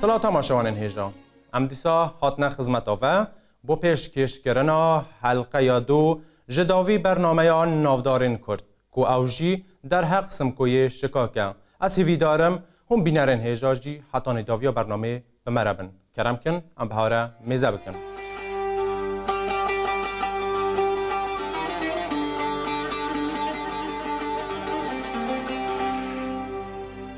Silav temaşewanên hêja. Em dîsa hatine xizmeta ve bo pêşkêşkirina helqeya dû ji dawî bernameya Navdarên Kurd. Ku ew jî derheq Simkoyê şikak e. Ez hîvîdar im hûn bînerên hêja jî heta nêdaviya bernameyê bi me re bin. Kerem kin em bi hare mêze bikin.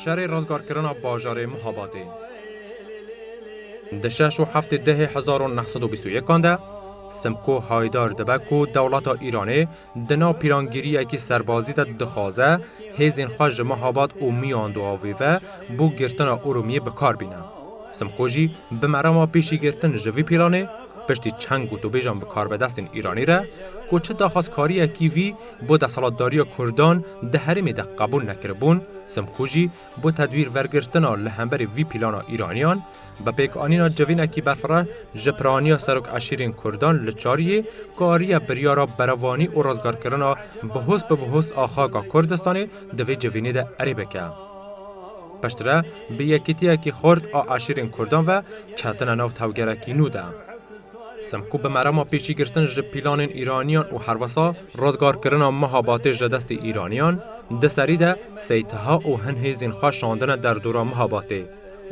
Şerê rizgarkirina bajarê Muhabatê. Di şeş û heftê dehê hezar û neh sed û bîst û yekan de Simko Haydar dibe ku dewleta Îranê di nav pîrangiriyekî serbazî de dixwaze hêzên xwe ji Muhabat û Miyanduavê ve bo girtina Urumiyê bi kar bîne. Simko jî bi merama pêşîgirtin ji vî pîranê piştî çend gotûbêjan bikarebedestên Îranî re ku çi daxwazkariyekî vî Bo desthilatdariya Kurdan di herêmê de qebûl nekiribûn, Simkû jî bo tedwîr vergirtina li hemberî vî plana Îraniyan, bi pêkanîna civînekî berfireh ji piraniya Serok Eşîrên Kurdan li Çariyê kariye biryara berevanî û rizgarkirina bi hûs bi bi hûs a xaka Kurdistanê di vê civînê de erê bike. Piştre bi yekîtiyekî xurt a eşîrên Kurdan ve ketine nav tevgerekî nû de. Semkû bi merama pêşîgirtin ji pîlanên Îraniyan û herwesa rizgarkirina Mihabatê ji destê Îraniyan, di serî de sey Taha û hin hêzên xwe şandine derdora Mihabatê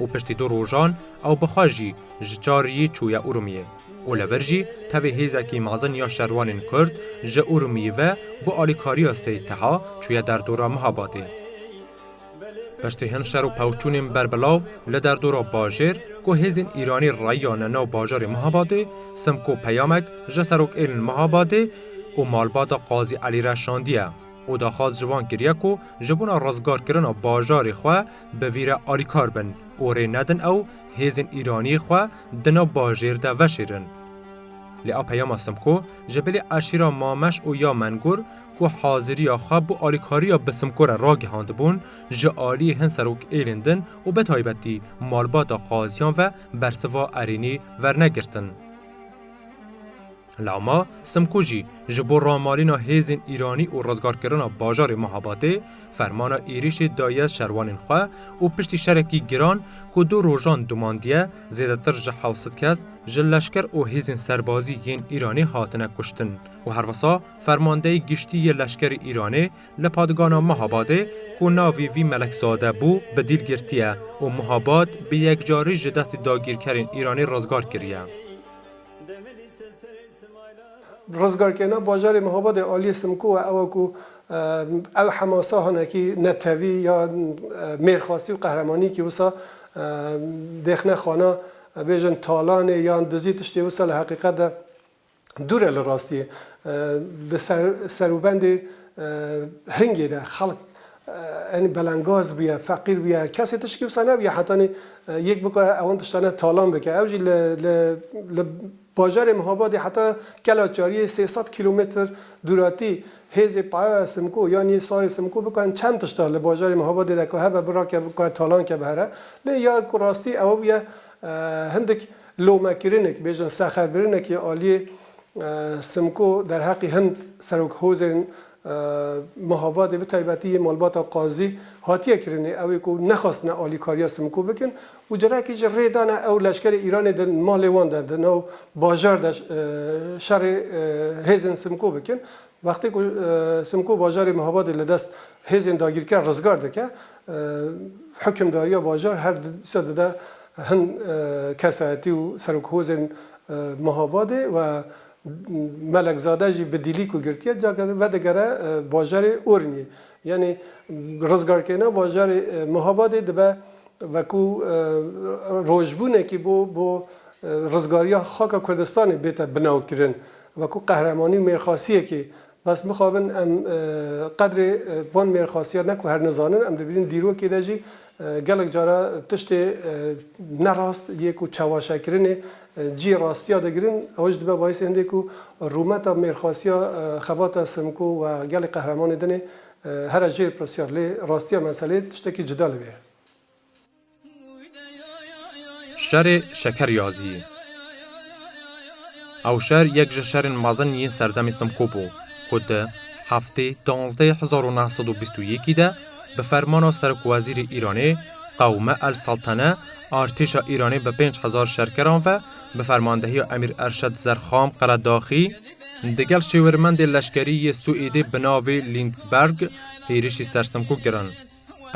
û piştî du rojan ew bi xwe jî ji Çariyê çûye Urmiyê û li vir jî tevî hêzekî mezin ya şerwanên Kurd ji Urmiyê ve bi alîkariya sey Taha çûye derdora Mihabatê. Piştî hin şer û pevçûnên berbelav li derdora bajêr ku hêzên Îranî rayîyane nav bajarê Mihabadê, Simko peyamek ji serokêln Mihabadê û malbata Qazî Elî re şandiye û daxwaz ji wan kiriye ku ji bona rizgarkirina bajarê xwe bi vî re alîkar bin û rê nedin ew hêzên Îranî xwe di nav bajêr de veşêrin. Lê a peyama Simko ji bilî eşîra Mameş û ya Mengur ku haziriya xwe bo alîkariya bi Simko re ragihandibûn, ji aliyê hin serokêlên din û bi taybetî malbata qaziyan ve bersiva erênî vernegirtin. Lama Simko jî ji bo ramalîna hêzên Îranî û rizgarkirina bajarê Mahabatê fermana êrîşê daye şerwanên xwe û piştî şerekî giran ku du rojan domandiye zêdetir ji hewsed kes ji leşker û hêzên serbazî yên Îranê hatine kuştin û herwisa Fermandeyê Giştî yê Leşkerê Îranê li Padgana Mahabadê ku navê vî Melekzade bû bi dîl girtiye û Mahabad bi yekcarî ji destê dagîrkerên Îranê rizgar kiriye. Rizgarkirina bajarê Mahabadê aliyê Simko we ew e ku ew hemasa hinekî netewî ya mêrxwastî û qehremanîkî wisa dêxne xwana bêjin talanê yan dizî tiştê wisa li heqîqet de Dûr e li rastiyê. Di serûbendê Hingê de xelk enî belengaz bûye, feqîr bûye. Kesê tiştî wisa nebûye hetanî yek bikare ewan tiştane talan bike. Ew jî li bajarê Mihabadê heta Kela Çariyê sê sed kîlometr dûratî hêzê Payoya Simko yan yê Sarê Simko bikarin çend tişta li bajarê Mihabadê de ku hebe birake bikare talan ke bi here. Lê ya ku rastî ew bûye hindik Lomekirinek, bêjin serxerbirinekî ya aliyê Simko derheqî hin serok hozên Mehabadê bi taybetî yê malbata Qazî hatiye kirinê ew ê ku nexwestine alîkariya Simko bikin û carekî jî rê dane ew leşkerê Îranê di malê wan de di nav bajar de şerê hêzên Simko bikin Wextê ku Simko bajarê Mihabadê li dest hêzên dagîrker rizgar dike, hukimdariya bajar her du dîsa dide hin kesayetî û serokhozên Mihabadê we Melekzade jî bi dîlî ku girtiye careke din vedigere bajarê Urmiyê. Yanî rizgarkirina bajarê Mihabadê dibe wekû rojbûnekî bo bo rizgariya xaka Kurdistanê bête binawkirin. Wekû qehremanî û mêrxasiyekê bes bixabin, em qedrê van mêrxasiyan ne ku her nizanin, em dibînin dîrokê de jî gelek cara tiştê ne rast yê ku çewaşekirinê cîyê rastiya digirin, ew ji dibe bayîsê hindê ku rûmeta mêrxasiya Xebata Simko û gelê qehremanê din ê here jêr pirsyar. Lê rastiya meselê tiştekî cida li vê ye. Şerê Şeker Yazîyê Ew şer yek ji şerên mezin yên serdemê Simko bû ku di heftê duwazdeh hezar û neh sed û bîst û yekî de bi fermana serokwezîrê Îranê Qewme El Seltene artêşa Îranê bi pênc hezar şerkeran ve bi fermandehiya Emîr Erşed Zerxam Qeredaxî digel şêwirmendê leşkerî yê Swêdê bi navê Lindberg hêrişî ser Simko kirin.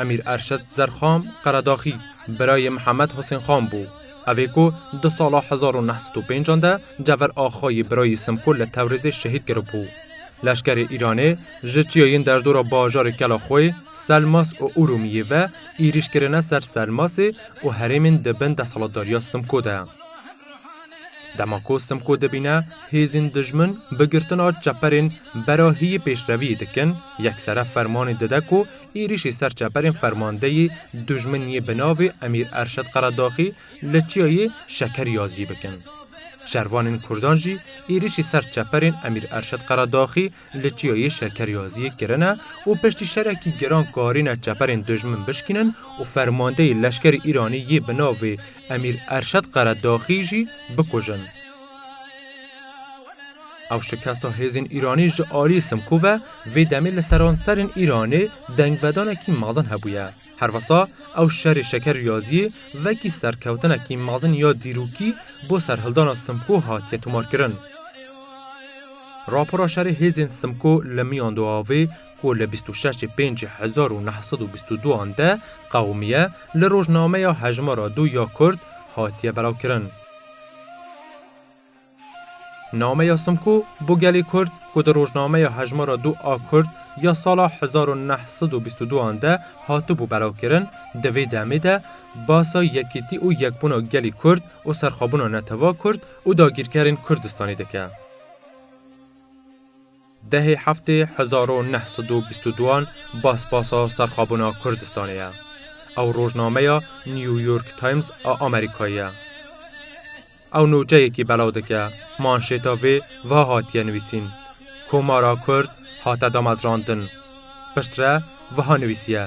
Emîr Erşed Zerxam Qeredaxî birayê Mihemed Husên Xan bû. Ev ê ku di sala hezar û neh sed û pêncan de Cever Axa yê birayê Simkûl li Tewrêzê şehîd kiribû. Leşkerê Îranê ji çiyayên derdora bajarê Kelaxoyê, Selmas û Urûmiyê ve êrîş kirine ser Selmasê û herêmên di bin desthilatdariya Simkû de. Dema ku Simko dibîne hêzên dijmin bi girtina çeperên bera hîyî pêşreviyê dikin, yeksere fermanê dide ku êrîşî ser çeperên fermandeyî dijmin yê bi navê Emîr Erşed Qeredaxî li çiyayê Şekerî ya zî bikin. Şervanên kurdan jî êrîşî ser çeperên Emîr Erşed Qeredaxî Li Çiyayê şekeryaziyê kirine û piştî şerekî giran karîne çeperên dijmin bişkînin û fermandeyê leşkerê Îranî yê bi navê Emîr Erşed Qeredaxî jî bikujin. Ew şikesta hêzên Îranî ji aliyê Simkû ve vê demê li seranserên Îranê dengvedanekî mezin hebûye. Her wisa ew şerê şeker riyaziyê vekî serkewtinekî mezin ya dîrokî bo serhildana Simko hatiye tomarkirin. Rapora şerê hêzên Simko li miyan du avê ku li bîst û şeşê pêncî hezar û neh sed û bîst û du an de qewimiye li rojnameya Hejmara Du ya Kurd hatiye belavkirin. Nameya Simko bo gelê Kurd ku di rojnameya Hejmara Du a Kurd ya sala hezar û neh sed û bîst û du an de hatibû belavkirin, di vê demê de basa yekîtî û yekbûna gelê Kurd û serxwebûna netew'a Kurd û dagîrkerên Kurdistanê dike. Dehê heftê hezar û neh sed û bîst û duan basbasa serxabûna Kurdistanê ye. Ew rojnameya New York Times a Amerîkayê ye. Ew nûçeyekî belav dike, manşêta vê wiha hatiye nivîsîn, Komara Kurd hate damezrandin. Piştre wiha nivîsiye,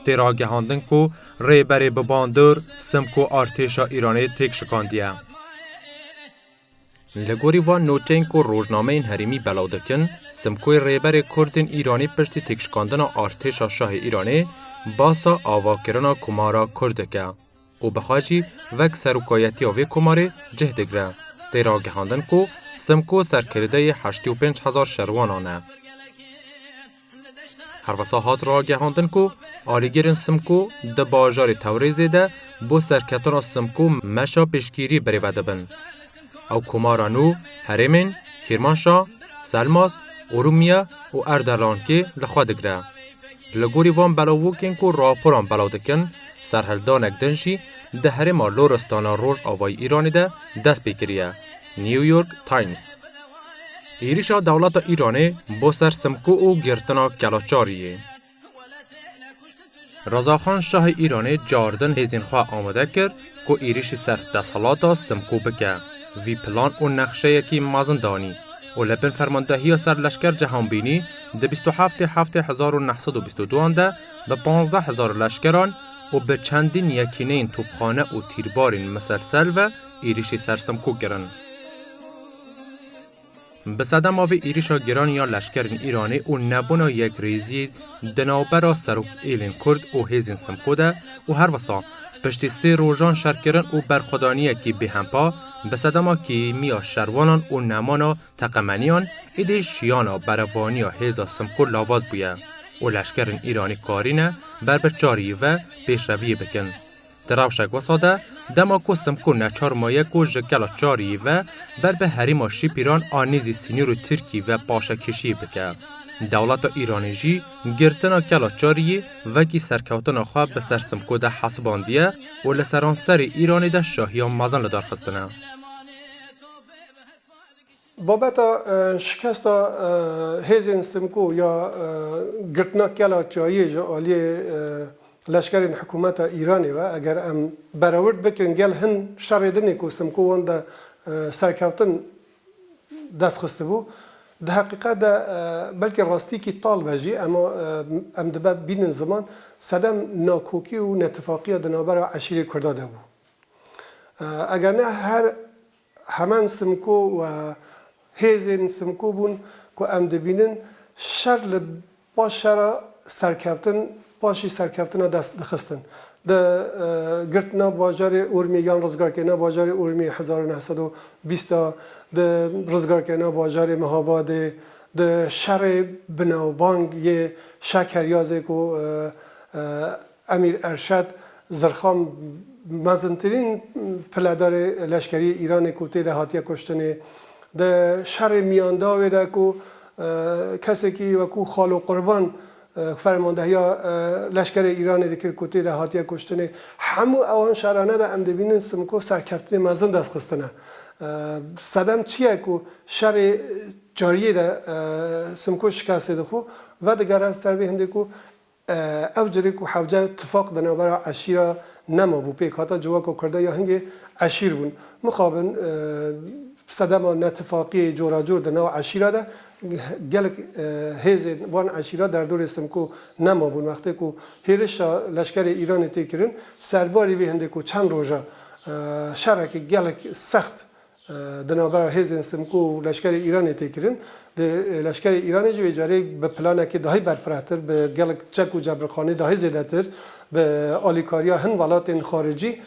Tê ragihandin ku Rêberê Bibandur Simko artêşa Îranê têk şikandiye. Li gorî van noteyên ku rojnameyên herêmî belav dikin, Simkoyê Rêberê Kurdên Îranê piştî têkşikandina artêşa şahê Îranê basa avakirina komara Kurd dike û bixa jî vek serokayetiya vê komarê cih digre. Tê ragihandin ku Simko serkirdeyê heştê û pênc hezar şerwanan e. Herwisa hat ragihandin ku alîgirên Simko di bajarê Tewrêzê de bo serketina Simko meşa piştgîrî birêve dibin. Ew komara nû herêmên Kîrmanşa, Selmas, Urûmiye û Erdelankê li xwe digire. Li gorî van belavokên ku raporan belav dikin, serhildanek din jî di herêma Loristana Rojavayî Îranê de dest pê kiriye. New York Times Êrişa dewleta Îranê bo ser Simko û girtina Kelaçariyê. Rezaxan Şahê Îranê caardin hêzên xwe amade kir ku êrişî ser desthilata Simko bike. Vî plan û nexşeyekî mezin danî û li bin fermandehiya ser leşker cihanbînî di bîst û heftê heftê hezar û neh sed û bîst û duan de bi pazdeh hezar leşkeran û bi çendîn yekîneyên topxane û tîrbarên miselsel ve êrîşî ser Simkû kirin. Bi sedema vê êrîşa giran ya leşkerên Îranê û nebûna yekrêziyê di navbera Serokêlên Kurd û hêzên Simkû de û herwisa piştî sê rojan şerkirin û berxwedaniyekî bêhempa bi sedema kêmiya şervanan û nemana teqemeniyan, êdî şiyana berevaniya hêza Simkû lavaz bûye û leşkerên Îranî karîne ber bi çar yî ve pêşreviyê bikin. Di rewşek wisa de, dema ku Simko neçar maye ku ji gela Çariyê ve ber bi herêma Şîpîran a nêzî sînorê Tirkiyê ve paşekêşiyê bike, dewleta Îranê jî girtina gela Çariyê wekî serkewtina xwe bi ser Simko de hesibandiye û li seranserê Îranê de şahiyan mezin lidarxistine. Babeta şikesta hêzên Simko ya girtina kela çayê ji aliyê leşkerên hikûmeta Îranê ve eger em berewird bikin gel hin şerê din ê ku Simko wan de serkeftin dest xistibû di heqîqet de belkî rastiyekî tal be jî em em dibe bînin ziman sedem nakokî û netifaqiya di navbera eşîrê kurda de bû eger ne her Heman Simko û hêzên Simko bûn ku em dibînin şer li paş şera serkeftin paşî serkeftina dest dixistin. Di girtina bajarê Urmiyê yan rizgarkirina bajarê Urmiyê hezar û neh sed û bîst de, di rizgarkirina bajarê Mehabadê, di şerê binavbang yê Şekeryazê ku Emîr Erşad Zirxan mezintirîn piledarê leşkeriyê Îranê ku tê de hatiye kuştinê, di şerê miyandavê de ku kesekî wekû Xalo Qurban fermandehiya leşkerê Îranê dikir ku tê de hatiye kuştinê, hemû ewan şerane de em dibînin Simko serkeftinê mezin dest xistine. Sedem çi ye ku şerê cariyê de Simko şikestê dixwe, vedigere ser vê hindê ku Ev carê ku hevce tifaq di navbera eşîra nemabû pêk hata civaka Kurda ya hingê eşîr bûn. Mixabin sedema netifaqiyê coracor di nav eşîra de gelek hêzên van eşîra derdorê Simko nemabûn. Wextê ku hêrişa leşkerê Îranê tê kirin serbarî vê hindê ku çend roja şerekî gelek sext Di navbera hêzên Simko û leşkerê Îranê tê kirin. Di leşkerê Îranê jî vê carê bi planekî dahî berfirehtir, bi gelek çek û cebrixanî dahî zêdetir, bi alîkariya hin welatên xaricî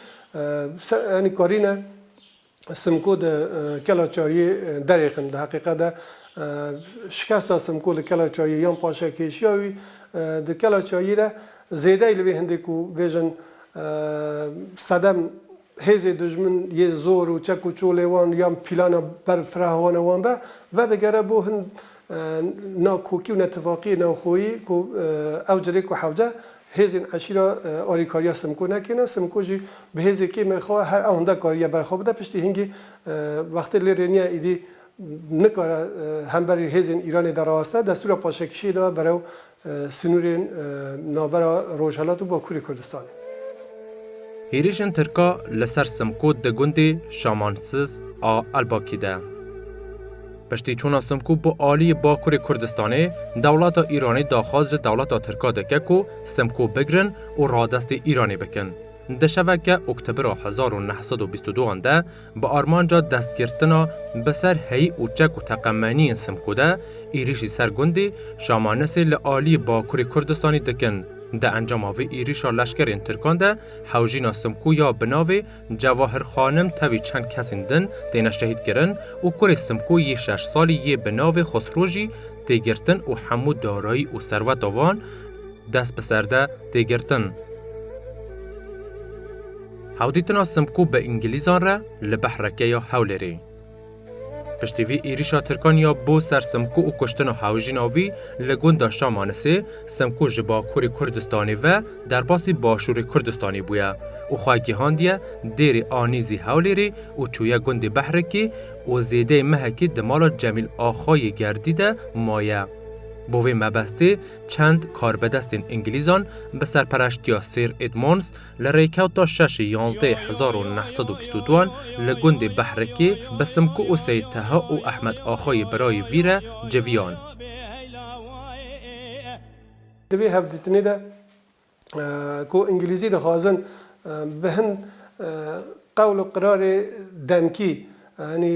yanî karîne Simko di kela çariyê derêxin. Di heqîqet de şikesta Simko li kela çayiyê yan paşek hêşiya wî di kela çayiyê de zêdeyî li vê hindê ku bêjin sedem Hêzê dijmin yê zor û çek û çolê wan yan pîlana ber firahoana wan be, vedigere bo hin nakokî û netifaqiyê navxweyî ku ew cirê ku hewce hêzên eşîra alîkariya Simko nekêne, Simko jî bi hêzê kêmên xwe ve her ewhunda kariye ber xwe bide, piştî hingî wextê lê rê niye îdî nikare hemberî hêzên Îranê de raweste, destûra paşekişiyê daye berew Sinûrên navbera Rojhilat û Bakurê Kurdistanê. Hêrîşên Tirka li ser Simkû di gundê Şamansiz a Elbakî de. Piştî çûna Simkû bi aliyê Bakurê Kurdistanê, dewleta Îranê daxwaz ji dewleta Tirka dike ku Simkû bigirin û radestê Îranê bikin. Di şeveke oktobira hezar û neh sed û bîst û du an de, Bi armanca destgirtina bi ser heyî û çek û teqemeniyên Simko de êrîşî ser gundê Şamanesê li aliyê Bakurê Kurdistanê dikin. Di encama vê êrîşa leşkerên Tirkan de hewjîna Simko ya bi navê Cewahir Xanim tevî çend kesên din têne şehîdkirin û kurê Simko yê şeş salî yê bi navê Xusro jî tê girtin û hemû darayî û serweta wan dest bi ser de tê girtin. Hewdîtina Simko bi îngilîzan re li behreke ya Hewlêrê. Piştî vî êrîşa Tirkan ya bo ser Simko û kuştina hewjîna wî li gunda Şamanisê, Simko ji Bakurê Kurdistanê ve derbasî Başûrê Kurdistanê bûye û xwe gihandiye dêrê Anîzî Hewlêrê û çûye gundê Behrekê û zêdeyê mehekê di mala Cemîl Axa yê Gerdî de maye. Bo vê mebestê çend karbedestên îngilîzan bi serpereştiya Sir Edmonds Li rêkewta şeşê yanzdehê hezar û neh sed û bîst û duan li gundê Behrikê bi Simko û Seyîd Teha û Ehmed Axayê birayê vî re civiyan. Di vê hevdîtinê de ku îngilîzî dixwazin bi hin qewl û qirarê demkî yanî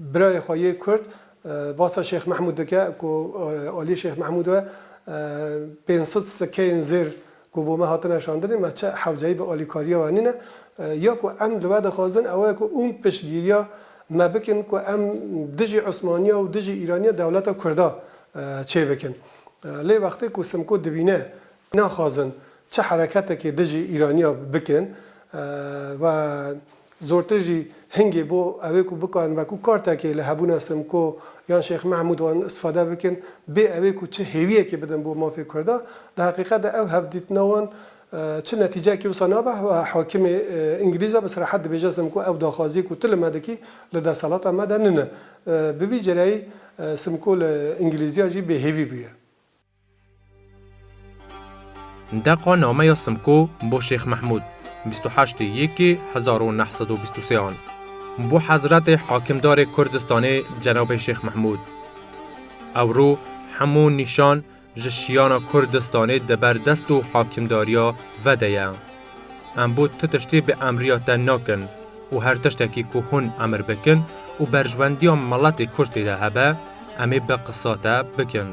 Birayê xwe yê Kurd basa Şêx Mehmûd dike ku aliyê Şêx Mehmûd we pênc sed sikeyên zêr ku bo me hatine şandinê me çi hewceyî bi alîkariya we nîne. Ya ku em li we dixwazin ew e ku hûn piştgîriya me bikin ku em dijî Osmaniya û dijî Îraniya dewleta Kurda çêbikin. Lê wextê ku Simko dibîne Naxwazin çi hereketekê dijî Îraniya bikin we zortir jî hingê bo ewê ku bikarin weku kartekê li hebûna Simko yan Şêx Mehmûd wan istifade bikin bê ewê ku çi hêwiyekê bidin bo mafê Kurda. Di heqîqet de ew hevdîtina wan çi netîceyekê wisa nabe we hakimê Îngilîz e bi serahet dibêje Simko ew daxwaziyê ku tu li me dikî li desthilata me de nine. Bi vî cereyî Simko li Îngilîziya jî bêhêvî bûye. Ndeqa nameya Simko bo Şêx Mehmûd, bîst û heştê Yekê hezar û neh sed û bîst û sê an. Bo Hezretê Hakimdarê Kurdistanê Cenabê Şêx Mehmûd. Ewro hemû nîşan ji şiyana Kurdistanê di ber dest û hakimdariya ve de ye. Em bo tu tiştî bi emriya te nakin û her tiştekî ku hûn emir bikin û berjwendiya miletê Kurd tê de hebe, em ê bi qisa te bikin.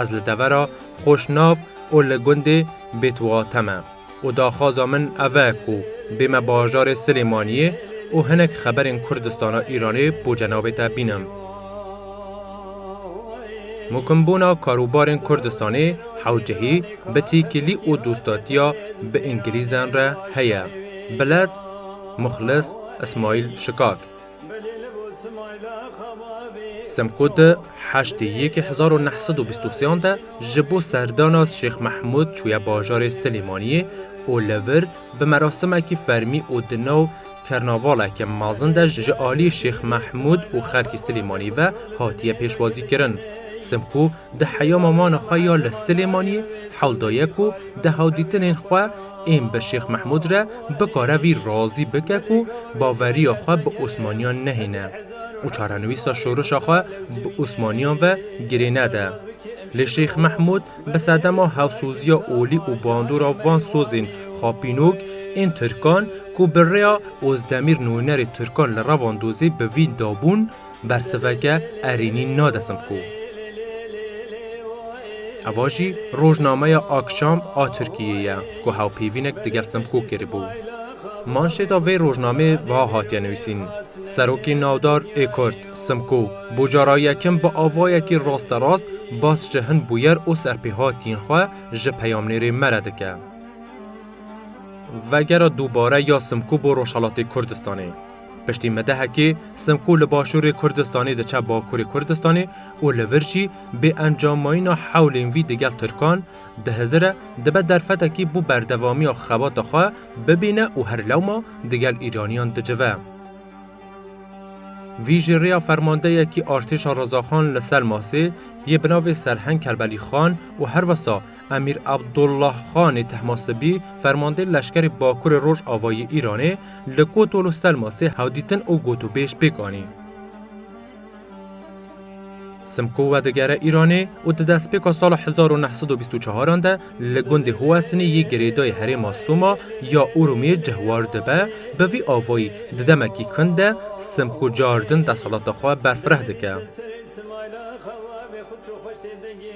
Ez li devera xweş nav û li gundê Bêtwate me û daxwaza min ev e ku bême bajarê Silêmaniyê û hinek xeberên Kurdistana Îranê bo cenabê te bînim. Mûkimbûna karûbarên Kurdistanê hewcehî bi tîkilî û dostatiya bi îngilîzen re heye. Bilez, Muxlis, Ismaîl Şikak. Simkût di heştê yekê hezar û neh sed û bîst û sêan de ji bo serdana Şêx Mehmûd çûye bajarê Silêmaniyê û li vir bi merasimekî fermî û di nav kernavaleke mezin de ji aliyê Şêx Mehmûd û xelkê Silêmaniyê ve hatiye pêşwazîkirin. Simkû Di heya mamana xwe ya li Silêmaniyê hewl daye ku di hewldîtinên xwe ên bi Şêx Mehmûd re bikare vî razî bike ku baveriya xwe bi Osmaniyan nehêne û çarenivîsa şoreşa xwe bi Osmaniyan ve girê nede. Lê Şêx Mehmûd bi sedema hevsoziya olî û bandora van sozên xapînok ên Tirkan ku bi rêya Ozdemîr nûnerê Tirkan li Revandozê bi vîn dabûn, Bersiveke erênî nadesim bi ku eva jî rojnameya Akşam a Tirkiyeyê ye ku hewpêvînek digel Simko kiribû. Manşêta vê rojnameyê wiha hatiye nivîsîn, Serokê navdar ê Kurd, Simko, bo cara yekem bi avayekî rasterast bas ji hin bûyer û serpêhatiyên xwe ji peyamnêrê me re dike. Vegera dubare ya Simko bo Rojhelatê Kurdistanê. Piştî medehekê Simko li Başûrê Kurdistanê diçe Bakurê Kurdistanê û li vir jî bê encamayîna hewlên vî digel Tirkan dihizire dibe derfetekî bo berdevamiya xebata xwe bibîne û her lewma digel Îraniyan dicive. Vî ji rêya fermandeyekî artêşa Rezaxan li Selmasê yê bi navê Serheng Kerbelî Xan û herwisa Emîr Abdullah Xanê Tehmasibî, fermandê leşkerê Bakurê Rojavayî Îranê li Kotol û Selmasê hewdîtin û gotûbêj pêk anî. Simko vedigere Îranê û di destpêka sala hezar û neh sed û bîst û çaran de li gundê Huwesinê yê girêdayî herêma Soma ya Urumiyê cihwar dibe, bi vî avayî di demekî kin de Simko caardin desalata xwe berfireh dike.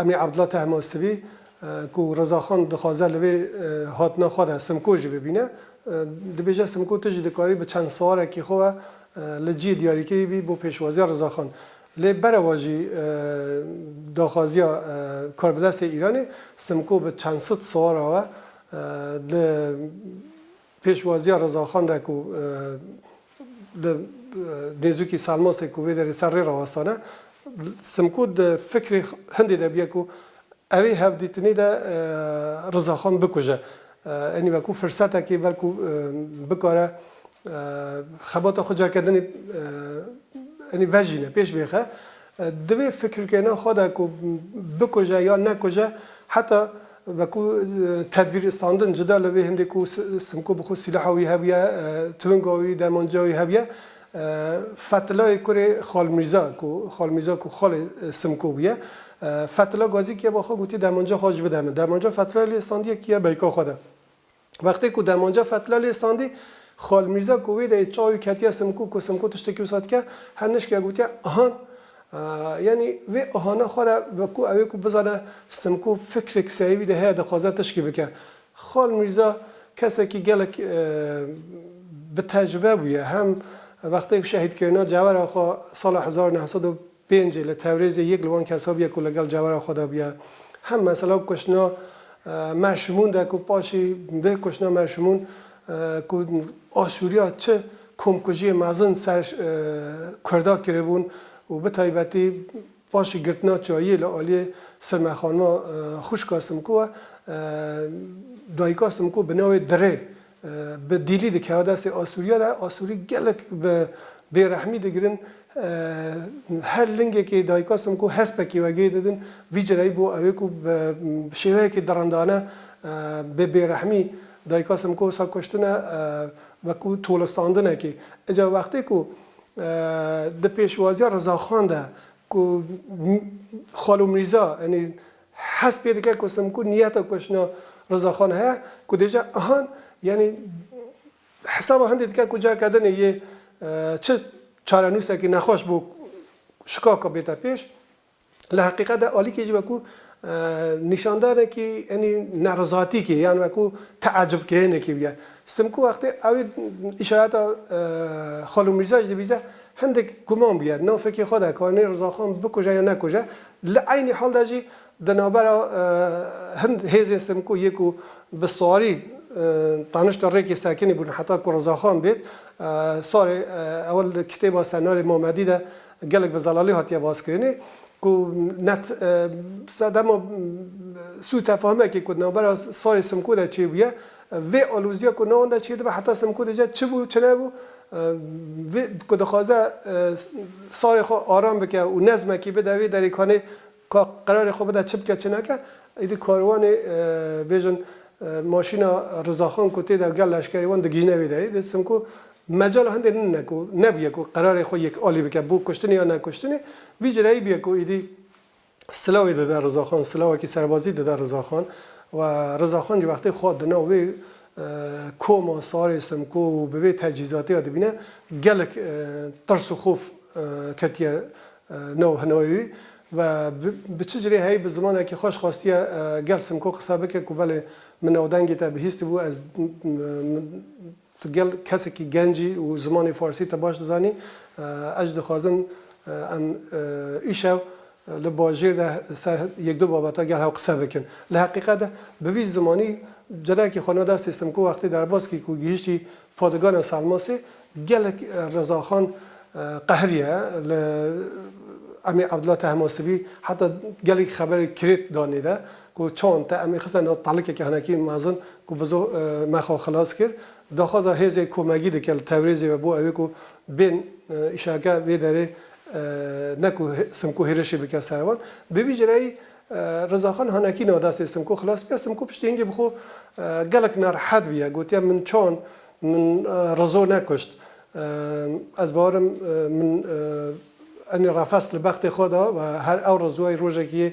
Emî Abdullah Tehmasibî ku Rezaxan dixwaze li vê hatina xwe de Simko jî bibîne, dibêje Simko tu jî dikarî bi çend siwarekî xwe ve li cihê diyarîkirî bî bo pêşwaziya Rezaxan. Lê bereva jî daxwaziya karbidestê Îranê, Simko bi çend sed siwara we di Pêşwaziya Rezaxan re ku li nêzûkî Selmasê ku wê derê ser rê rawestane, Simko di fikrê hindê de bûye ku ew ê hevdîtinê de Rezaxan bikuje. Enî wekû firsetekê belkû bikare xebata xwe cerkendinê enî vejîne, pêş bêxe. Di vê fikirkirina xwe de ku bikuje ya nekuje heta Wekû tedbîr standin cuda li vê hindê ku Simko bi xwe sîlaha wî hebûye, twinga wî, dermanca wî hebûye. Fethilayê kurê Xal Mîrza ku Xal Mîrza ku xalê Simko bûye, Fethila gazî kiye ba xwe gotî dermanca xwe ji bide min. Dermanca Fethilay lê standîye kiye beyka xwe de. Wextê ku demanca Fetla lê standî, Xal Mîrza ku wê deyê çaw û ketiye Simko ku Simko tiştekî wisa dike, her nişkîya gotiye ahan. Yanî vê ahana xwe re wekû ew ê ku bizane Simko fikrek serê wî de heye dixwaze tişkî bike. Xal Mîrza kesekî gelek bi tecrube bûye. Hem wextê ku şehîdkirina cewera xwe sala hezar û neh sed û Pêncê li Tewrêzê yek li wan kesan bûye ku li gel cewera xwe de bûye. Hem mesela kuştina Merşimûn de ku paşî vê kuştina Merşimûn ku Aşûriya çi komkujiyê mezin ser Kurda kiribûn û bi taybetî paşî girtina çayiyê li aliyê Sirme Xanima xwişka Simkû e, dayika Simkû bi navê Dirê Bi dîlî dikeve destê Asûriya de, Asûrî gelek bi bêrehmî digirin, her lingekê dayika sim ku hespekî wegê didin, vî cireyî bo ew ê ku bi şêweyekî dirindane bi bêrehmî dayika sim ku wisa kuştine wekû tolistandinekê. Îca wextê ku di pêşwaziya Rizaxan de ku Xalo Mîrza yanî Hest pê dike ku Simkûr niyeta ku jina Rizaxan heye ku dê ja Ihan yanî hesaba hindê dike ku careke din ê yê çi çarenûsekî nexweş bo şikaka bête pêş. Li heqîqet de Alîkî jî wekû nîşandanekî yanî nerizatîkê yan wekû teecibkênekî bûye. Simkûr wextê ew ê îşareta Xalû Mîrza jî dibîze hindik guman bûye navfekê xwe de ka nê Rizaxan bikuje yan nekuje Li eynî hal de jî di navbera hind hêzên Simko yê ku bi sarî tanişta Rêkê Sekinî bûn heta ku Rizaxan bêt sarê ew li kitêba Senarê Mamedî de gelek bi zelalî hatiye baskirinê ku net sedema sûtefahimekê ku di navbera sarê Simko de çêbûye Vê alozîya ku newanda çê dibe heta Simko dice çi bû çi nebû, vê ku dixwaze salê xwe aram bike û nezmekî bide vê derê kanê ka qerarê xwe bide çi bike çi neke, êdî karwanê bêjin maşîna Rizaxan ku tê de gel leşkerê wan digihîne vê derê dê Simko mecala hindê din ne ku nebûye ku qerarê xwe yek alî bike bo kuştinê ya nekuştinê vî ci reyî bûye ku êdî Silavê dide Rizaxan, silavekî serbazî dide Rizaxan û Rizaxan jî wextê xwe di nav wê koma Sarê Simko û bi vê tecîzatê ya dibîne gelek tirs û xof ketiye nav hinayê wî ve bi çi cirê heyî bi zimanekî xweş xwestiye gel Simko qise bike ku belê min navdengê te bihîstibû ez Tu gel kesekî genc î û zimanê farsî te baş dizanî. Ez jî dixwazim em îşev li bajêr de ser yek du babeta gel hev qise bikin. Li heqîqet de bi vî zimanî cenayekî xwe na destê Simko wextê derbazkî ku gihîştî padigana Salmasê gelek Rezaxan qehiriye li emîr Ebdullah Tehmasibî heta gelekî xeberê kirêt da nêde Ku çand te em ê xiste nav talikeke hinekî mezin ku bizo me xwe xilas kir. Daxwaza hêzên komegî dike li Tewrêzê ve bo ew ê ku bên îşeeke vê derê ne ku Simko hêrişê bike ser wan. Bi vî cureyî Rizaxan hinekî nav destê Simko xilas bike. Simko piştî hingê bi xwe gelek nerehet bûye. Gotiye min çand min Rizo nekuşt. Ez bawer im min enê refes li bextê xwe da. Her ew Rizoyê rojekî yê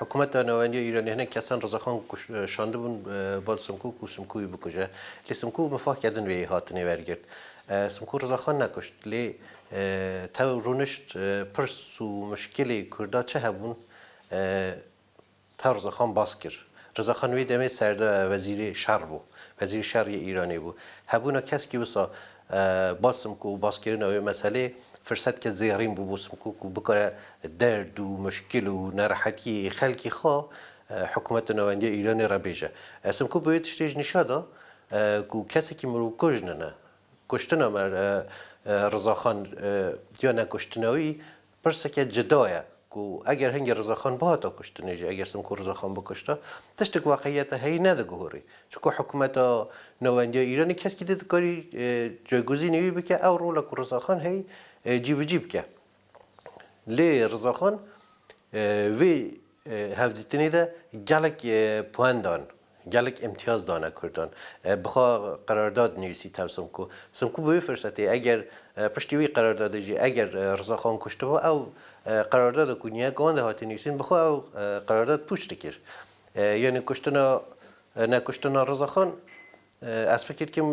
Hikûmeta Navendî ya Îranê hinek kesan Rizexan kuşt şandibûn bal Simkû ku Simkû wî bikuje. Lê Simkû mifah kerdin vê hatinê wergirt. Simkû Rizexan nekuşt. Lê tev rûnişt pirs û mişkilê Kurda çi hebûn tev Rizexan bas kir. Rizexan wê demê serde wezîrê şer bû. Wezîrê şer yê Îranê bû. Hebûna keskî wisa Basmkû û baskirina wê meselê firsetkê zêrîn bû bo Simkû ku bikare derd û muşkil û nerehetiyê yê xelkê xwe hikûmeta nawendiya Îranê re bêje. Simkû bi wê tiştê jî nîşa da ku kesekî mirovkûj nine. Kuştina me Rizaxan ya nekuştina wî, Pirseke cida ye ku eger hingê Rizaxan bihata kuştinê jî eger Simkûr Rizaxan bikuşta, tiştek weqîyeta heyî nediguhurî. Çunku hikûmeta navendî ya Îranê keskî dê dikarî cayguzînê wî bike ew rola ku Rizaxan heyî cîbicî bike. Lê Rizaxan vê hevdîtinê de gelek poen dan. Gelek îmtiyaz dane Kurdan. Bi xwe qerardad nivîsî tev Simku. Simku bi wî firsetê eger piştî wî qerardadê jî eger Rizaxan kuştibo ew qerardada ku niyek wende hate nivîsîn bi xwe ew qerardad pûç dikir. Yanî kuştina ne kuştina Rizaxan ez fikir dikim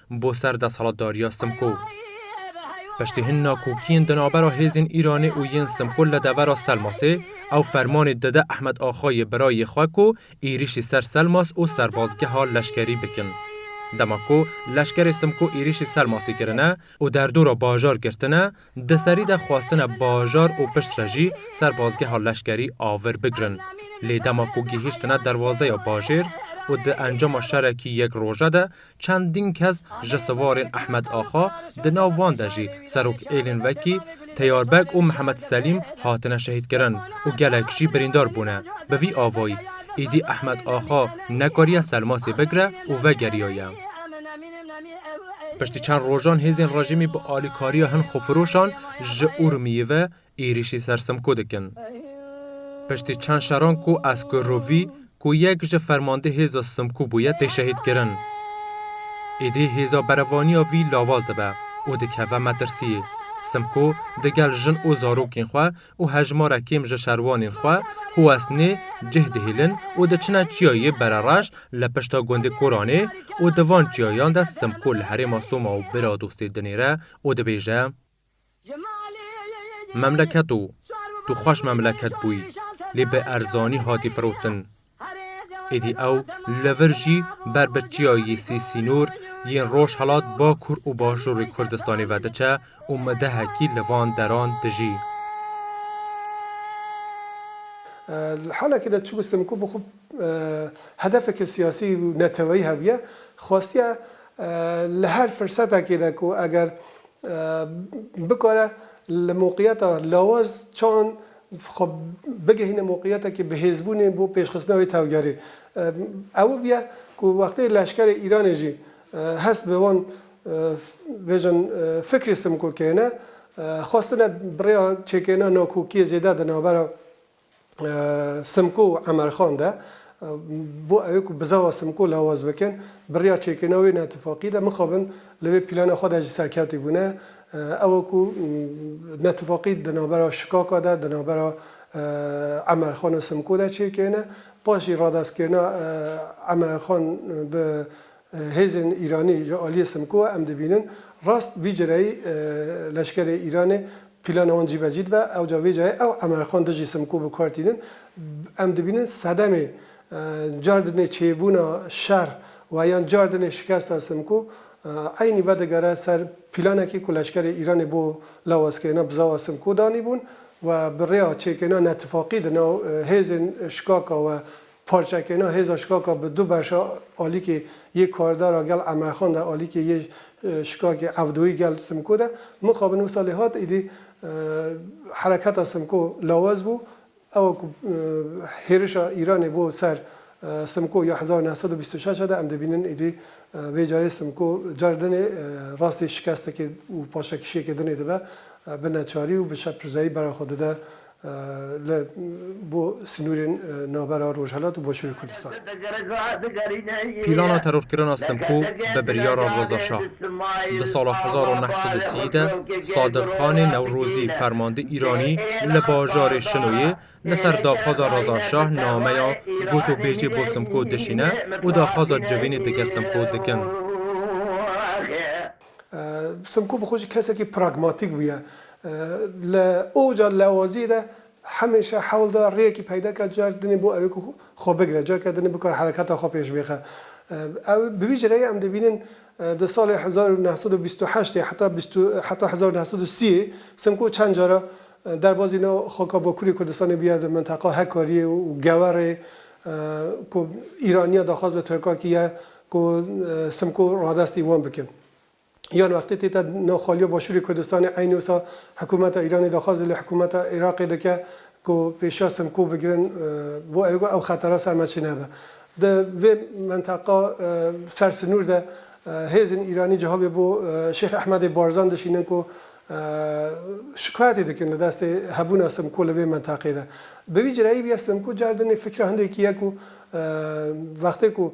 bo ser desalatdariya Simko. Piştî hin nakokiyên di navbera hêzên Îranê û yên Simko li devera Selmasê, ew fermanê dide Ehmed Axayê birayê xwe ku êrîşî ser Selmas û serbazgeha leşkerî bikin. Dema ku leşkerê Simko êrîşî Selmasê kirine û derdora bajar girtine, Di serî de xwestine bajar û piştre jî serbazgeha leşkerî a vir bigirin. Lê dema ku gihîştine derwazeya bajêr û di encama şerekî yek roje de çendîn kes ji sivarên Ehmed Axa di nav wan de jî serok êlên wekî Teyar Beg û Mihemed Selîm hatine şehîdkirin û gelek jî birîndar bûne bi vî avayî îdî Ehmed Axa nekariye selmasê bigire û vegeriyaye. Piştî çend rojan hêzên rejîmî bi alîkariya hin xwefiroşan ji Urmiyê ve êrîşî ser Simko dikin. Piştî çend şeran ku Esko Rovî ku yek ji fermandê hêza Simko bûye tê şehîdkirin. Êdî hêza berevaniya vî lawaz dibe û dikeve metirsiyê. Simko digel jin û zarokên xwe û hejmara kêm ji şerwanên xwe Huwesnê cih dihêlin û diçine çiyayê Berereş li pişta gundê Koranê û di van çiyayan de Simko li herêma Soma û bira dostê dinêre û dibêje Memleket o, tu xweş memleket bûyî, lê bi erzanî hatî firotin. Êdî ew li vir jî ber bi çiyayê sê sînor yên Rojhilat, Bakur û Bajarê Kurdistanê ve diçe û midehekî li van deran dijî. Li halekê de çûbû Simko bo xwe hedefeke siyasî û neteweyî hebûye, xwestiye li her firsetekê de ku eger bikare li moqiyeta lawaz çand xwe bigihîne moqîyetekî bihêzbûnê bo pêşxistina wê tevgerê. Ew bûye ku wextê leşkerê Îranê jî hest bi wan bêjin fikrê Simko keyne, xwestine bi rêya çêkirina nakokiyê zêde di navbera Simko û Emerxan de bo ewê ku bizava Simko lawaz bikin, bi rêya çêkirina wê netifaqî de mixabin li vê plana xwe de jî serkevtî bûne. Ew ku netfaqî di navbera Şikaka de, di navbera Emerxan û Simko de çêkêne, paşî radestkirina Emerxan bi hêzên Îranî ji aliyê Simko ve em dibînin rast vî cireyî leşkerê Îranê plana wan cîbecî dibe, ewca vê cayê ew Emerxan dijî Simko bi kar tînin. Em dibînin sedemê cardinê çêbûna şer û yan cardinê şikesta Simko Eynî vedigere ser pîlanekî ku leşkerê Îranê bo lawazkirina Bzawa Simko danîbûn we bi rêya çêkirina netifaqî di nav hêzên şikaka we parçekirina hêza şikaka bi du beşa alîkê yê kardara gel Emerxan de alîkê yê şikakê Evdoyî gel Simko de mixabin wisa lê hat êdî hereketa Simko lawaz bû Ewa ku hêrişa Îranê bo ser Simko ya hezar û neh sed û bîst û şeş e de em dibînin êdî vê carê Simko carê din ê rastî şikestekê û paşekişiyekê din ê dibe bi neçarî û bi şeprzeyî bera xwe dide li bo sinûrên navbera Rojhelat û Başûrê Kurdistan. Pîlana terorkirina Simko bi biryara Reza Şah. Di sala hezar û neh sed û sî de Sadir Xanê Newrozî fermandê Îranî li bajarê Şinoyê li ser daxwaza Reza Şah nameya gotûbêjê bo Simko dişîne û daxwaza civînê digel Simko dikin. Simko bi xwe jî kesekî pragmatîk bûye. Li oca lewaziyê de Hemêşe hewl da rêyekî peyda ka car dinê bo ew ê ku xwe bigire, careke dinê bikare hereketa xwe pêş bixe. Ew bi vî cireyê em dibînin di salê hezar û neh sed û bîst û heştê heta bîst û heta hezar û neh sed û sîyê Simko çend cara derbazî nav xaka Bakurê Kurdistanê bûye di minteqa Hekariyê û Gewerê ku Îraniya daxwaz li Tirkan kî ye ku Simko radestî wan bikin. yan wextê tê te nav xaliya Başûrê Kurdistanê eynî wisa hikûmeta Îranê daxwazê li hikûmeta Iraqê dike ku pêşiya Simkû bigirin bo ew ew xetera ser me çênebe. Di vê menteqa ser sinûr de hêzên Îranî cihabê bo Şêx Ehmedê Barzan dişînin ku şikayetê dikin li destê hebûna Simkû li vê menteqê de. Bi vî cireyî bûye Simkû car dinê fikra hindekî ye ku wextê ku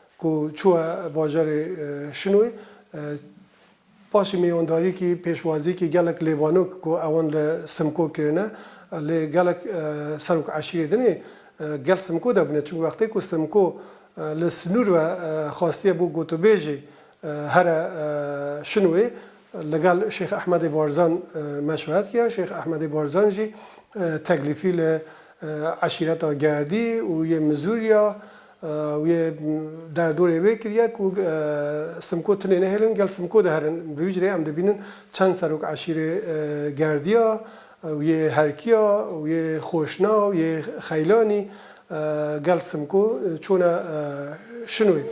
ku çûye bajarê Şinoy paşê mîyandarîkî, pêşwazîkî gelek lêvanok ku ewan li Simko kirine lê gelek serok eşîrê din ê gel Simko de bûne çimkû wextê ku Simko li sinûr ve xastiye bo gotûbêjê here Şinoyê li gel Şêx Ehmedê Barzan meşweret kiya Şêx Ehmedê Barzan jî teklîfî li eşîreta Gerdî û yê Mizûrya Ew yê derdorê wê kiriye ku Simko tinê nehêlin gel Simko diherin. Bi vî cureyê em dibînin çend serok eşîrê Gerdiya û yê Herkiya û yê Xweşna û yê Xeylanî gel Simko çûne Şinoyê.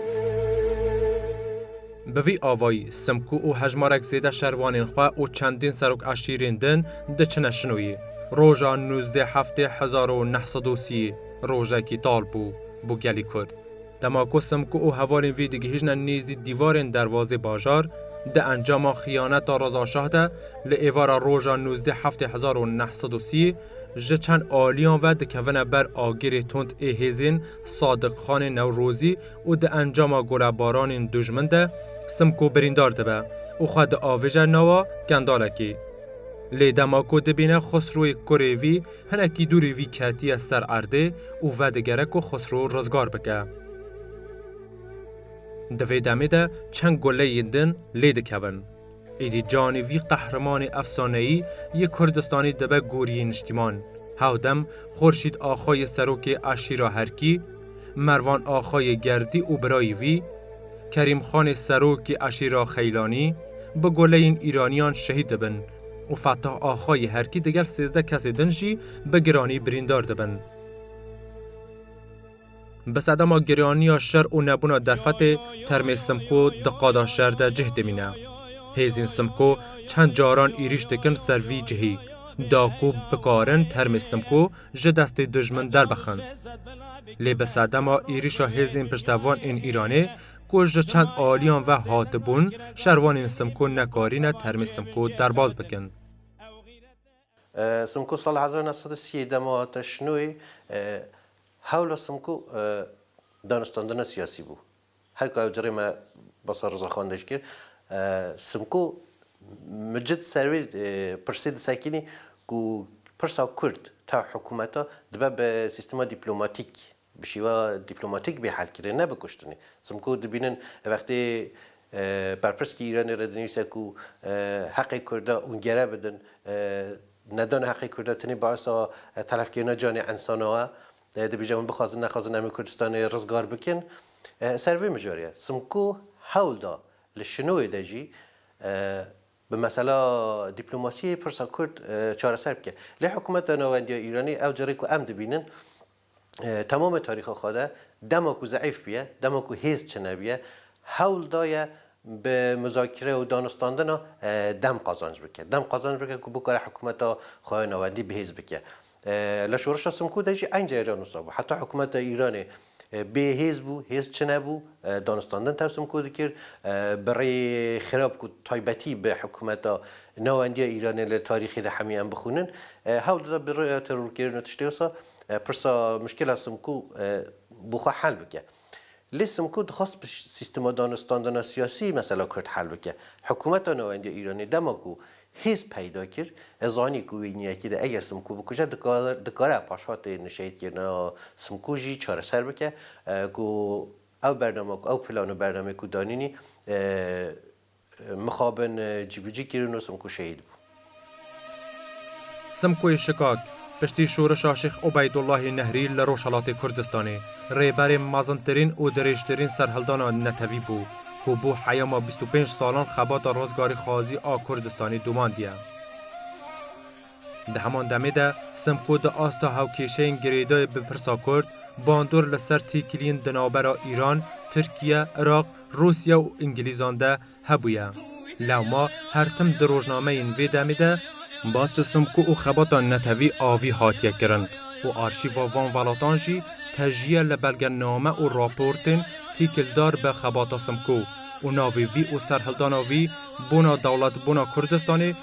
Bi vî avayî Simko û hejmarek zêde şervanên xwe û çendîn serok eşîrên din diçine Şinoyê. Roja nûzdeh heftê hezar û neh sed û sî. Rojekî tal bû bo gelî Kurd. Dema ku Simko û hevalên vê digihîjne nêzî dîvarên derwazê bajar, di encama xiyaneta Reza Şah de li êvara roja nûzdeh heftê hezar û neh sed û sî ji çend aliyan ve dikevine ber agirê tund ê hêzên Sadiqxanê Newrozî û di encama golebaranên dûjmin de Simko birîndar dibe û xwe diavêje nawa kendalekê. Lê dema ku dibîne Xusroyê kurê vî Hinekî dûrî vî ketiye ser erdê û vedigere ku Xusrû rizgar bike. Di vê demê de çend guleyên din lê dikevin. Êdî canê vî qehremanê efsaneyî yê Kurdistanê dibe goriyê niştîman. Hewdem Xurşîd Axa yê serokê eşîra Herkî, Mervan Axa yê Gerdî û birayî vî, Kerîmxanê serokê eşîra Xeylanî, bi guleyên îranîyan şehîd dibin. û Fettah Axa yê Herkî digel sêzdeh kesê din jî bi giranî birîndar dibin. Bi sedema giraniya şer û nebûna derfetê termê Simko di qada şer de cih dimîne. Hêzên Simko çend caran êrîş dikin ser vî cihî, da ku bikarin termê Simko ji destê dijmin derbixin. Lê bi sedema êrîşa hêzên piştevan ên Îranê, Ku ji çend aliyan ve hatibûn, şervanên Simko nekarîne termê Simko derbas bikin. Simko sala hezar û neh sed û sî yê dema hate şinoyê, hewla Simko danûstandina siyasî bû. Her ku ew ci rê me basa Riza Xan de jî kir, Simko micid ser vê pirsê disekînî ku pirsa Kurd tev hikûmeta dibe bi sîstema dîplomatîk bi şêwa dîplomatîk bê helkirin ne bi kuştinê. Simko dibînin wextê berpirsîkî Îranê re dinivîse ku heqê Kurda ûn gere bidin, nedana heqê Kurda tenê baisa telefkirina canê insana ye. Dibêje hûn bixwazin nexwazin em ê Kurdistanê rizgar bikin. Ser vê mijarê Simko hewl da li şinoyê de jî bi mesela dîplomasiyê pirsa Kurd çareser bike. Lê hikûmeta nawendiya Îranê ew carê ku em dibînin, temamê tarîxa xwe de dema ku zeîf bûye, dema ku hêz çinebûye hewl daye bi muzakire û danûstandina dem qazanc bike. Dem qazanc bike ku bikare hikûmeta xwe ya navendî bihêz bike. Li Şoreşa Simkûr de jî eynî cariyan wisa bû. Heta hikûmeta Îranê bê hêz bû, hêz çinebû, danûstandin tev Simkûr dikir. Bi rê xirab ku taybetî bi hikûmeta nawendiya Îranê li tarîxê de hemî em bixwînin, hewl dida bi rêya terorkirin û tiştê wisa. Pirsa muşkila Simkû bi xwe hel bike. Lê Simkû dixwest bi sîstema danûstandina siyasî mesela Kurd hel bike. Hikûmeta Navendî ya Îranê dema ku hêz peyda kir, e zanî ku wê niyekî de eger Simkû bikuje dikare paşhatê nişeydkirina Simkû jî çareser bike ku ew bername ku ew plan û bernameyê ku danînî Mixabin cîbicî kirin û Simkû şehîd bû. Simkûyê Şikat, piştî şorişa Şêx Ubeydullahê Nehrî li Rojhilatê Kurdistanê, rêberê mezintirîn û dirêjtirîn serhildana netewî bû, ku bo heyama bîst û pênc salan xebata rizgarîxwazî a Kurdistanê domandiye. Di heman demê de Simko di asta hevkêşeyên girêdayî bi pirsa Kurd, bandor li ser têkiliyên di navbera Îran, Tirkiye, Iraq, Rûsya û Îngilîzan de hebûye. Lewma her tim di rojnameyên vê demê de, bas ji Simko û xebata netewî avî hatiye kirin û arşîva van welatan jî tejîye li belgename û raportên têkildar bi xebata Simko û navê vî û serhildana vî bona dewletbûna Kurdistanê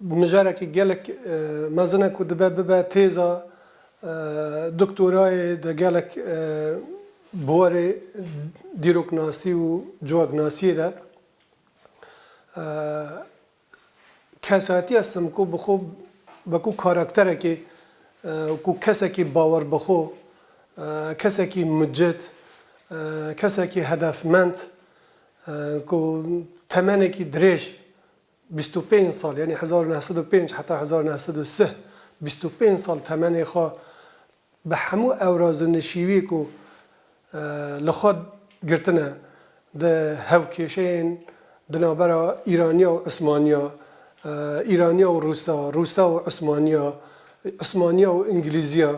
Bi mijarekî gelek mezin e ku dibe bibe têza doktorayê di gelek buwarê dîroknasî û civaknasîyê de. Kesayetîya Simko bi xwe wekû karakterekê, wekû kesekî bawer bi xwe, kesekî mucit, kesekî hedefmend ku temenekî dirêj Bîst û pênc sal yanî hezar û neh sed û pênc heta hezar û neh sed û sih bîst û pênc sal temenê xwe bi hemû ewraz û nişîwiyê ku li xwe girtine di hewkêşeyên di navbera Îraniya û Usmaniya, Îraniya û Rûsa, Rûsa û Usmaniya, Usmaniya û Ingilîziya,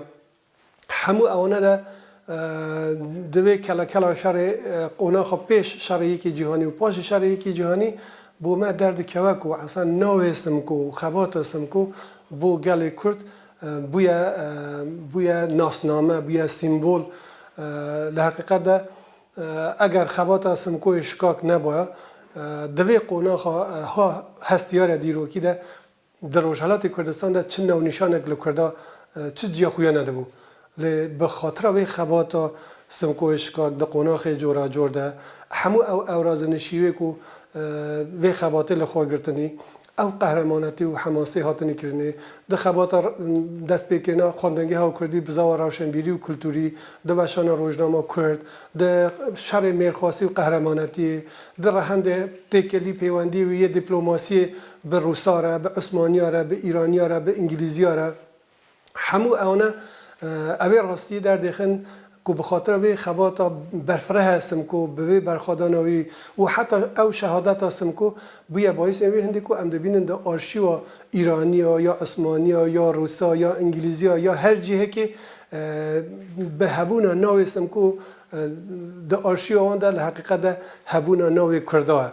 Hemû ewana de divê kelekelan şerê qûna xwe pêş Şerê Yekê Cîhanî û paşê Şerê Yekê Cîhanî bo me derdikeve ku Esen navê Simko û xebata Simko bo gelê Kurd bûye bûye nasname, bûye sîmbol. Li heqîqet de eger xebata Simkoyê şikak nebûya divê qonaxa ha hestiyar e dîrokî de Di Rojhilatê Kurdistan de çi navnîşanek li Kurda çi ciya xwe ya nedibû. Lê bi xatira vê xebata Simko yê Şikak di qonaxê coracor de hemû ew ewrazinişîyê ku vê xebatê li xwe girtinî, ew qehremanetî û hemasî hatinî kirinê, di xebata destpêkêna xwendingeha Kurdî bi zawa rewşenbîrî û kulturî, di weşana rojnama Kurd, di şerê mêrxwasî û qehremanetîyê, di rehendê têkelî pêwendîyê wê yê dîplomasîyê bi rûsa re, bi ûsmaniya re, bi îraniya re, bi îngilîziya re hemû eone ew ê rastiyê derdêxin ku bi xatira vê xebata berfirehe Simko bi vê berxwedana wî û heta ew şehadeta Simko bûye bayîsên wê hindê ku em dibînin di arşîwa îraniya ya ûsmaniya ya rûsa ya îngilîziya ya her cihekê bi hebûna navê Simko di arşîwa wan de li heqîqet de hebûna navê Kurda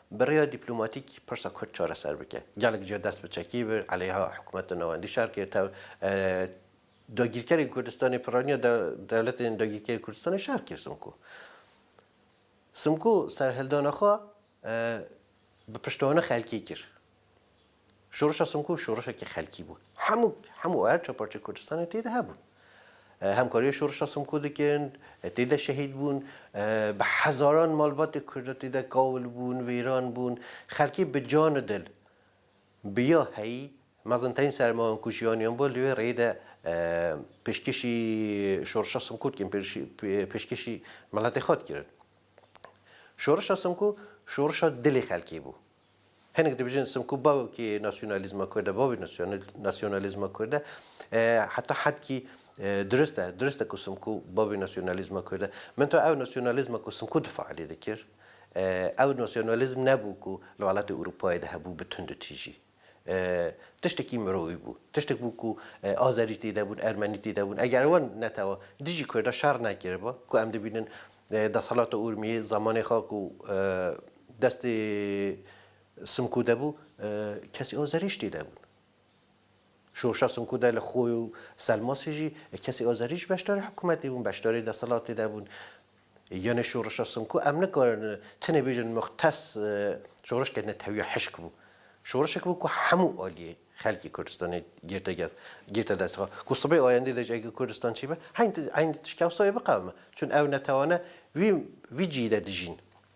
Bi rêya dîplomatîk pirsa Kurd çareser bike. Gelek cîya dest bi çekî bi eleyha hikûmeta navendî şer kir. Tev dagîrkerên Kurdistanê pirranîya dewletên dagîrkerên Kurdistanê şer kir Simko. Simko serhildana xwe bi piştavana xelkê kir. Şoreşa Simkû şoreşekî xelkî bû. Hemû hemû her çar parçeyê Kurdistanê tê de hebûn. Hemkariya Şoreşa Simkû dikin, tê de şehîd bûn. Bi hezaran malbatê Kurda tê de kawil bûn, wêran bûn. Xelkê bi can û dil bi ya heyî mezinterîn sermayan ku jiyaniyan bû li wê rêyê de pêşkêşî Şoreşa Simkû dikin, pêşkêşî miletê xwe dikirin. Şoreşa Simkû şoreşa dilê xelkê bû. Hinek dibijin simku bavki nasyonalizma Kurd e, bavê nasyonalizma Kurd e. Heta hedkî dirist e. Dirist e ku simku bavê nasyonalizma Kurd e. Min to ew nasyonalizma ku simku difa alê dikir, ew nasyonalizm nebû ku li welatê Ewropayê de hebû bi tundutîjî. Tiştekî mirovî bû. Tiştek bû ku Azerî tê de bûn, Ermenî tê de bûn. Eger wan netewa dijî Kurdan şer nekiriba ku em dibînin desthilata Urmiyê zamanê xwe ku Destê Simkû de bû, kesî ew zerîştî nebûn. Şoşa Simkû de li Xoy û Selmasî jî kesî ew zerîşt beşdarî hikûmetê bûn, beşdarî deselatê de bûn. Yanê şoreşa Simkû em nikarin tenê bêjin muxtes şoreşke netewîya hişk bû. Şoreşek bû ku hemû aliyê xelkê Kurdistanê girte gest, girte dest xwe. Ku sibê ayendê de jî eger Kurdistan çi be, heyn heyn tişt kewsayê biqewime. Çün ew netewane vî vî cî de dijîn.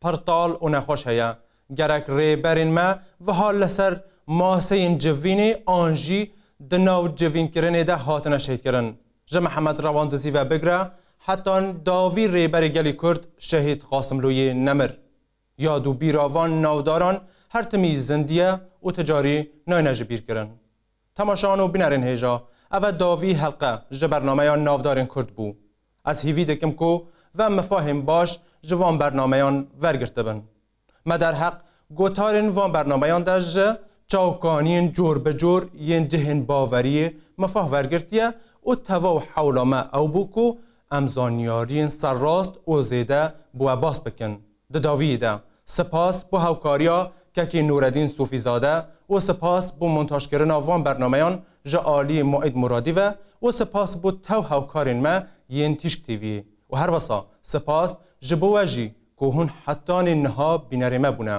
Pir tal û nexweş heye. Gerek rêberên me viha li ser maseyên civînê an jî di nav civînkirinê de hatine şehîdkirin. Ji Mihemed Rewan Dizî ve bigire heta dawî rêberê gelê Kurd Şehîd Qasimlûyî nemir. Yad û bîra van navdaran her timî zindî ye û ti carî nayne jibîrkirin. Temaşan û binerên hêja, ev e davî helqe ji bernameya Navdarên Kurd bû. Ez hîvî dikim ku ve mifahên baş ji van bernameyan vergirtibin. Me derheq gotarên van bernameyan de ji çavkaniyên corbicor yên cihên baveriyê mifah vergirtiye û tevaw hewla me ew bû ku em zanyariyên serrast û zêde bi we bas bikin. Di dawiyê de sipas bo hewkariya Kekê Nûredîn Sofîzade û sipas bo montajkirina van bernameyan ji aliyê Muîd Muradî ve û sipas bo tew hewkarên me yên Tîşk TV'yê û herwisa sipas ji bo we jî ku hûn hetanî niha bînerê me bûne.